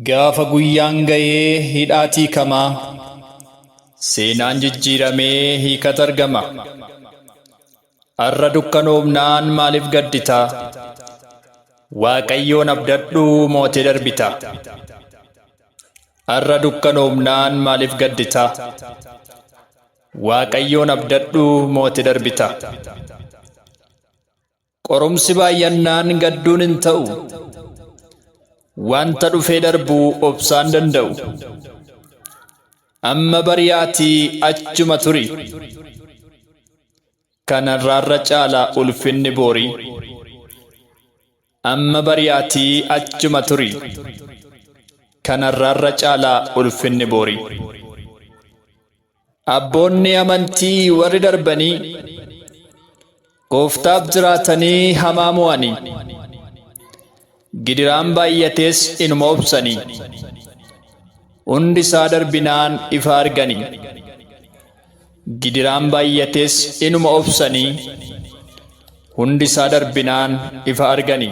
Gaafa guyyaan ga'ee hidhaat hiikama. Seenaan jijjiiramee hiikat argama. Har'a dukkanoomnaan maaliif gaddita? Waaqayyoon abdadhu mootee darbita. Har'a dukkanoomnaan maaliif gaddita? Waaqayyoon abdadhu mootee darbita. Qorumsi baay'annaan gadduun hin ta'u. Wanta dhufee darbu obsaan danda'u. Amma bari'aatii achuma turi. Kanarraarra caala ulfinni boorii. Amma bari'aatii achuma turi. Kanarraarra caala ulfinni boorii. Abboonni amantii warri darbanii gooftaaf jiraatanii hamaa mo'anii gidiraan baay'atees inuma obsanii hundi isaa darbinaan ifa arganii gidiraan baay'atees inuma obsanii hundi isaa darbinaan ifa arganii.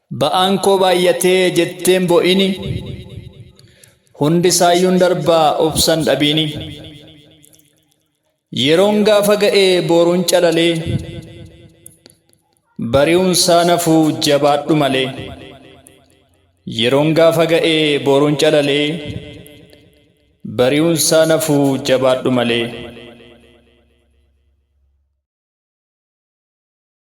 Ba'aan koo baay'atee jetteen bo'ini hundi saayyuun darbaa obsan dhabiini yeroon gaafa ga'ee booruun calalee bari'uun saa nafuu jabaadhu malee yeroon gaafa ga'ee booruun calalee bari'uun saa nafuu jabaadhu malee.